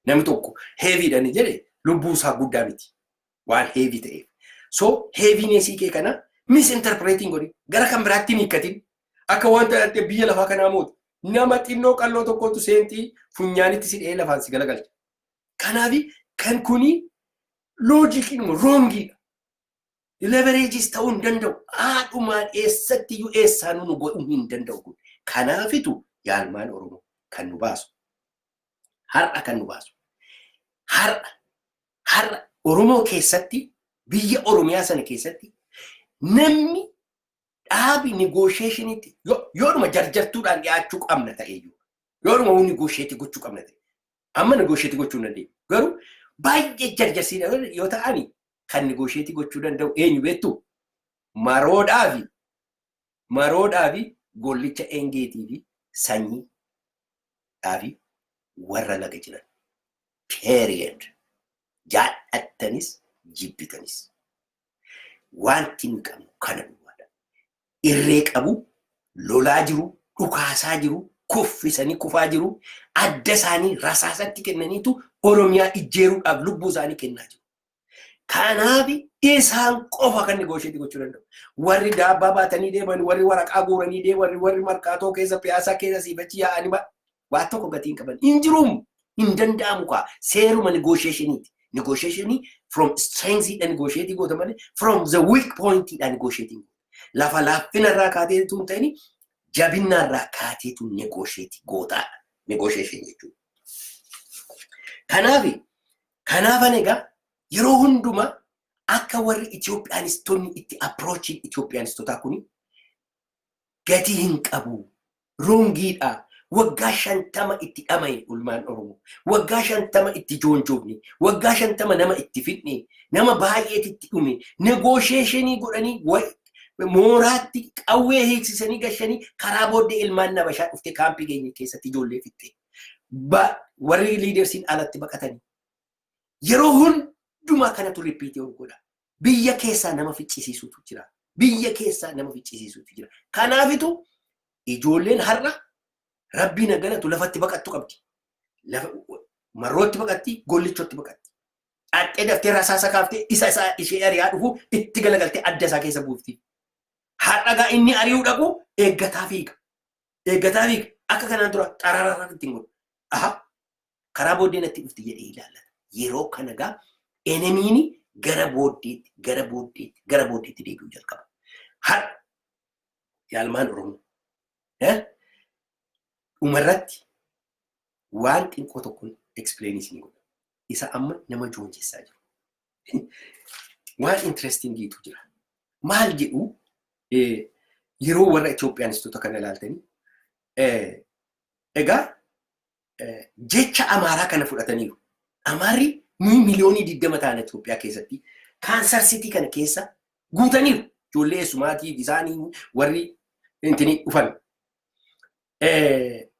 Namni tokko heeviidha ni jedhe lubbuu isaa guddaa miti. Waan heevii ta'eef. So heeviineesii kee kana misinterpreetiin godhi. Gara kan biraatti hin hiikkatin. Akka wanta dhattee biyya lafaa kanaa mootu. Nama xinnoo qalloo tokkotu seenxii funyaanitti si dha'ee lafaan si galagalcha. Kanaafi kan kuni loojikiinuma roongiidha. Levereejis ta'uu hin danda'u. Haadhumaan eessatti iyyuu eessaanuu nu godhuu hin danda'u kun. Kanaafitu yaalmaan Oromoo kan nu baasu. Har'a kan nu baasu. Har'a har'a Oromoo keessatti biyya Oromiyaa sana keessatti namni dhaabi nigoosheeshiniitti yoodhuma jarjartuudhaan dhiyaachuu qabna ta'eyyuu yoodhuma negoosheetii gochuu qabna ta'e Amma negotiate gochuu hin dandeenyu. Garuu baay'ee jarjarsiin yoo ta'ani kan negotiate gochuu danda'u eenyu beektu? Maroodhaa fi maroodhaa fi gollicha engeetii fi sanyii dhaa fi warra laga jiran. Period. Jaallattanis jibbitanis. Wanti nu qabnu kana duwwaadha. irree qabu, lolaa jiru, dhukaasaa jiru, kuffisanii kufaa jiru, adda isaanii rasaasatti kennaniitu Oromiyaa ijjeeruudhaaf lubbuu isaanii kennaa jiru. Kanaaf isaan qofa kan negoosheetii gochuu danda'u. Warri daabbaa baatanii deeman, warri waraqaa guuranii deeman, warri markaatoo keessa piyaasaa keessa siifachi yaa'anii Waa tokko gatii hin qaban. Hin jiruum. Hin danda'amu kaa. Seeruma negotiationiiti. Negotiationii from strength dha negotiate goota malee from the weak point dha negotiate goota. Lafa laaffina irraa kaatee tun ta'ini jabinna irraa kaatee tun negotiate gootaa dha. Negotiation jechuudha. Kanaafi kanaafan egaa yeroo hundumaa akka warri Itoophiyaanistonni itti approachiin Itoophiyaanistotaa kuni Gatii hin qabu. Wrongii dha. Waggaa 50 itti dhamaye ulmaan Oromoo. Waggaa 50 itti joonjoofne. Waggaa 50 nama itti fixne. Nama baay'eet itti dhume. Negotiation godhanii mooraatti qawwee hiiksisanii gashanii karaa booddee ilmaan nabashaa dhufte kaampii keenya keessatti ijoollee fixxe. Warri liidersiin alatti baqatanii. Yeroo hundumaa kanatu riippiitii ol godha. Biyya keessaa nama ficcisiisuutu jira. Biyya keessaa nama ficcisiisuutu jira. Kanaafitu ijoolleen har'a rabbiin haa galatu lafatti baqattu qabdi. Lafa marrootti baqatti, gollichotti baqatti. Dhaxxee daftee rasaasa kaaftee isa isaa ishee ari'aa dhufu itti galagaltee adda isaa keessa buufti. Har'a gaa inni ari'uu dhaqu eeggataa fiiga. Eeggataa fiiga. Akka kanaan dura xarararra ittiin godhu. Aha. Karaa booddee natti dhufti jedhee ilaallata. Yeroo kana gaa enemiin gara booddeetti, gara booddeetti, gara booddeetti deebi'uu jalqaba. Har yaalmaan Oromoo. Eh? Dhumarratti waan xinqoo tokkoon explain isinii godha. Isa amma nama joonjessaa jiru. Waan interestingiitu jira. Maal jedhu eh, yeroo warra Itoophiyaanistoota kana ilaaltanii eh, egaa jecha Amaaraa kana fudhataniiru. Amaarri nuyi miliyoonii 20 taana Itoophiyaa keessatti kaansar sitii kana keessa guutaniiru. Ijoollee eessumaatiif isaanii warri intini dhufan.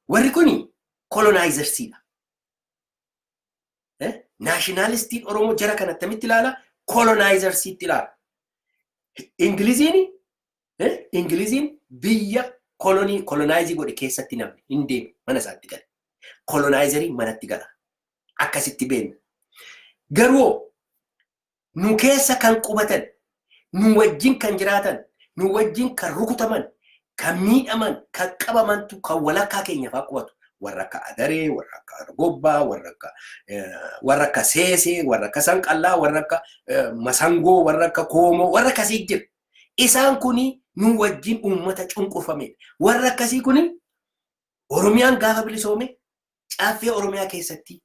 Warri kuni kolonaayizarshiidha. Naashinaalistiin Oromoo jara kana attamitti ilaala? Kolonaayizarshiitti ilaala. Ingiliziin Ingiliziin biyya kolonii kolonaayizi godhe keessatti namni hin deemu mana isaatti gale. Kolonaayizerii manatti gala. Akkasitti beekna. Garuu nu keessa kan qubatan, nu wajjin kan jiraatan, nu wajjin kan rukutaman, kan miidhaman, kan qabamantu kan walakkaa keenya fa'aa qubatu. Warra akka adaree, warra akka argobbaa, warra akka warra akka seesee, warra akka sanqallaa, warra akka masangoo, warra akka koomoo, warra akkasii jira. Isaan kuni nuu wajjin uummata cunqurfameedha. Warri akkasii kuni Oromiyaan gaafa bilisoome Caffee Oromiyaa keessatti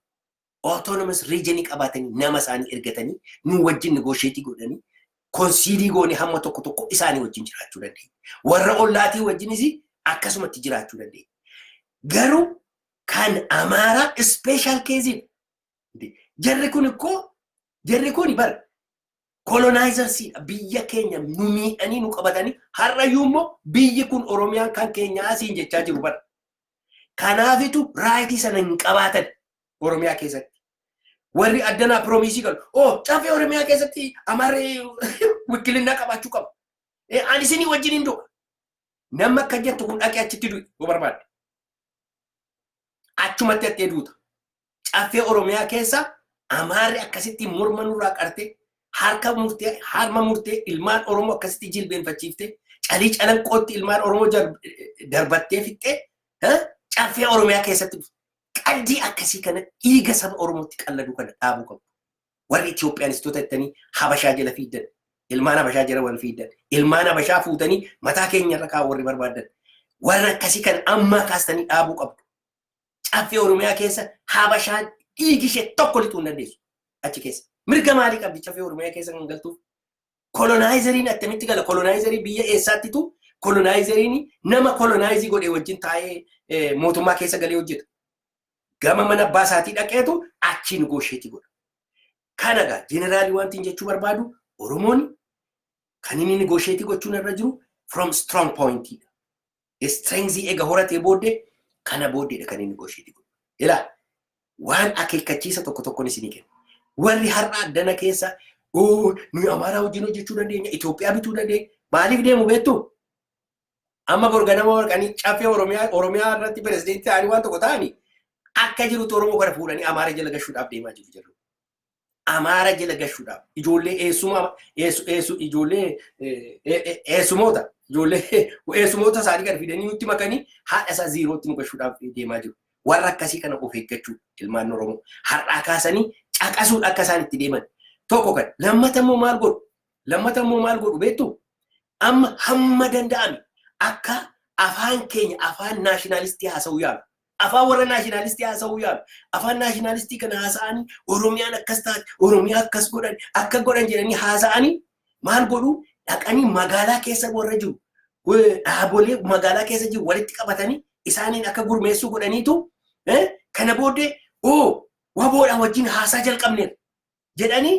autonomous region qabaatanii nama isaanii ergatanii nuu wajjin negotiate godhanii konsiidii goonee hamma tokko tokko isaanii wajjin jiraachuu dandeenya. Warra ollaatii wajjinis akkasumatti jiraachuu dandeenya. Garuu kan Amaaraa special case dha. Jarri kun ikkoo jarri kun bar kolonaayizarsii dha. Biyya keenya nu miidhanii nu qabatanii har'ayyuu immoo biyyi kun Oromiyaan kan keenya asiin jechaa jiru bara. Kanaafitu raayitii sana hin qabaatan Oromiyaa keessatti. Warri addanaa piroomiisii galu. Oo caffee Oromiyaa keessatti Amaarri wikkilinnaa qabaachuu qaba. Eh, Ani isinii wajjin hin du'a. Namni akka jettu kun dhaqee achitti du'i yoo barbaadde. Achumatti hattee duuta. Caffee Oromiyaa keessa Amaarri akkasitti morma nurraa qartee harka murtee harma murtee ilmaan Oromoo akkasitti jilbeenfachiiftee calii calanqootti ilmaan Oromoo darbattee fixxee caffee Oromiyaa keessatti qaddii akkasii kana dhiiga saba Oromootti qalladuu kana dhaabuu qabu. Warri Itoophiyaanistoota jettanii Habashaa jala fiiddan. Ilmaan Habashaa jala wal fiiddan. Ilmaan Habashaa fuutanii mataa keenya irra kaa'u warri barbaadan. Warra akkasii kana ammaa kaastanii dhaabuu qabdu. Caffee Oromiyaa keessa Habashaan dhiigi ishee tokko lixuu hin dandeessu. Achi keessa. Mirga maalii qabdi caffee Oromiyaa keessa kan galtuuf? Kolonaayizeeriin attamitti gala? Kolonaayizeerii biyya eessaattitu kolonaayizeeriin nama kolonaayiizii godhee wajjin taa'ee mootummaa keessa galee hojjeta. Gama mana abbaa isaatii dhaqeetu achii nigoosheetii godha. Kana egaa jeneraalii wantiin jechuu barbaadu Oromoon kan inni nigoosheetii gochuun irra jiru from strong point dha. Strength ega horatee booddee kana booddeedha kan inni negotiate godhu. Ilaa waan akeekkachiisa tokko tokkoon isinii kenna. Warri har'a addana keessa oo nuyi Amaaraa wajjin hojjechuu dandeenya, Itoophiyaa bituu dandeenya. Maaliif deemu beektu? Amma borganama warqanii caffee Oromiyaa Oromiyaa irratti pirezidentii ta'anii waan tokko ta'anii akka jirutti Oromoo kana fuudhanii Amaara jala gashuudhaaf deemaa jiru jedhu. Amaara jala gashuudhaaf ijoollee eessumaa eessu eessu ijoollee eessumoota ijoollee eessumoota isaanii gad fidanii nutti makanii haadha isaa ziirootti nu gashuudhaaf deemaa jiru. Warra akkasii kana of eeggachuu ilmaan Oromoo har'aa kaasanii caqasuun akka isaan itti deeman tokko kan lammata immoo maal godhu lammata immoo maal godhu beektu amma hamma danda'ame akka afaan keenya afaan naashinaalistii haasa'uu yaalu Afaan warra naashinaalistii haasa'uu yaalu. Afaan naashinaalistii kana haasa'anii Oromiyaan akkas taate, Oromiyaa akkas godhan, akka godhan jedhanii haasa'anii maal godhu dhaqanii magaalaa keessa warra jiru dhaabolee magaalaa keessa jiru walitti qabatanii isaaniin akka gurmeessuu godhaniitu kana booddee oo waboodha wajjin haasaa jalqabneera. jedhanii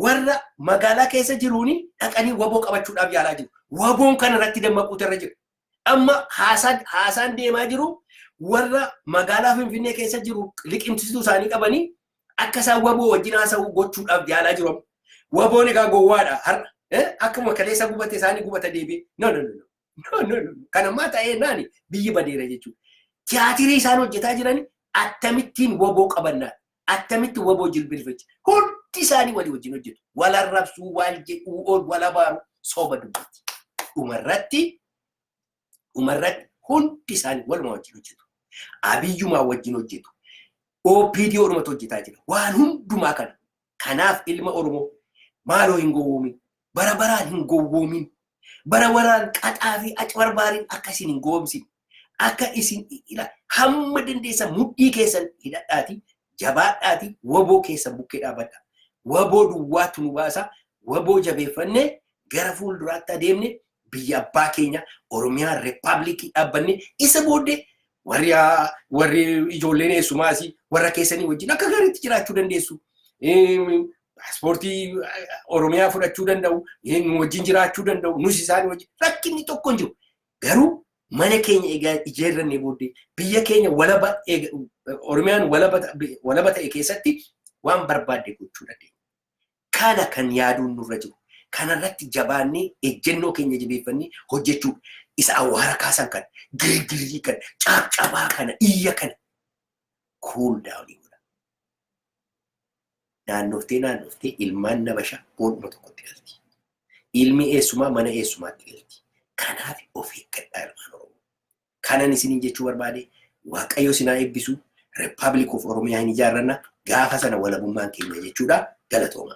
warra magaalaa keessa jiruun dhaqanii waboo qabachuudhaaf yaalaa jiru. Waboon kana irratti dammaquutu irra jira. Amma haasaan haasaan deemaa jiru warra magaalaa Finfinnee keessa jiru liqimsiisuu isaanii qabanii akka isaan waboo wajjin haasa'uu gochuudhaaf yaalaa jiru. Waboon egaa gowwaadha har'a. Eh, Akkuma kaleessa gubate isaanii gubata deebi'e. No, no, no, no. No, no, no. Kan ammaa ta'ee naani biyyi badeera jechuudha. Tiyaatirii isaan hojjetaa jiran akkamittiin waboo qabannaa akkamitti waboo jilbilfachi hundi isaanii walii wajjin hojjetu. Wal arrabsuu, wal jedhuu, ol wal abaaru soba dubbatti. Dhumarratti dhumarratti hundi isaanii waluma wajjin hojjetu. Abiyyumaa wajjin hojjetu. OPDO dhumatu hojjetaa jira. Waan hundumaa kana Kanaaf ilma Oromoo maaloo hin gowwoomin. Bara baraan hin gowwoomin. Bara baraan qaxaa fi acbarbaariin akka isin hin gowwoomsine. Akka isin ila hamma dandeessan mudhii keessan hidhadhaati jabaadhaati waboo keessan bukkee dhaabadha. Waboo duwwaatu nu baasa. Waboo jabeeffannee gara fuulduraatti adeemne biyya abbaa keenya Oromiyaa Rippaabilikii dhaabbanne isa booddee warri haa- warri ijoolleen eessumaa asii warra keessanii wajjin akka gaariitti jiraachuu dandeessu. Eem, Paaspoortii eh, Oromiyaa fudhachuu danda'u, eh, nu wajjin jiraachuu danda'u, nus isaan wajjin rakkinni tokko hin jiru. Garuu mana keenya egaa ijaarrannee booddee biyya keenya walaba eega- Oromiyaan walaba ta- walaba ta'e keessatti waan barbaadde gochuu dandeenya. Kana kan yaaduun nurra jiru, kanarratti jabaannee ejjennoo keenya jabeeffannee hojjechuudha. Isa awwaara kaasan kana, girgirrii kana, caabcabaa kana, iyya kana cool down godhaa. Naannoftee naannoftee ilmaan nabashaa boodhuma tokkotti galti. Ilmi eessumaa mana eessumaatti galti. Kanaaf of eeggadhaa ilmaan Oromoo. Kanan isiniin jechuu barbaade Waaqayyo isin haa eebbisu. Republic of Oromiyaa hin ijaarranna. Gaafa sana walabummaan keenya jechuudha. Galatooma.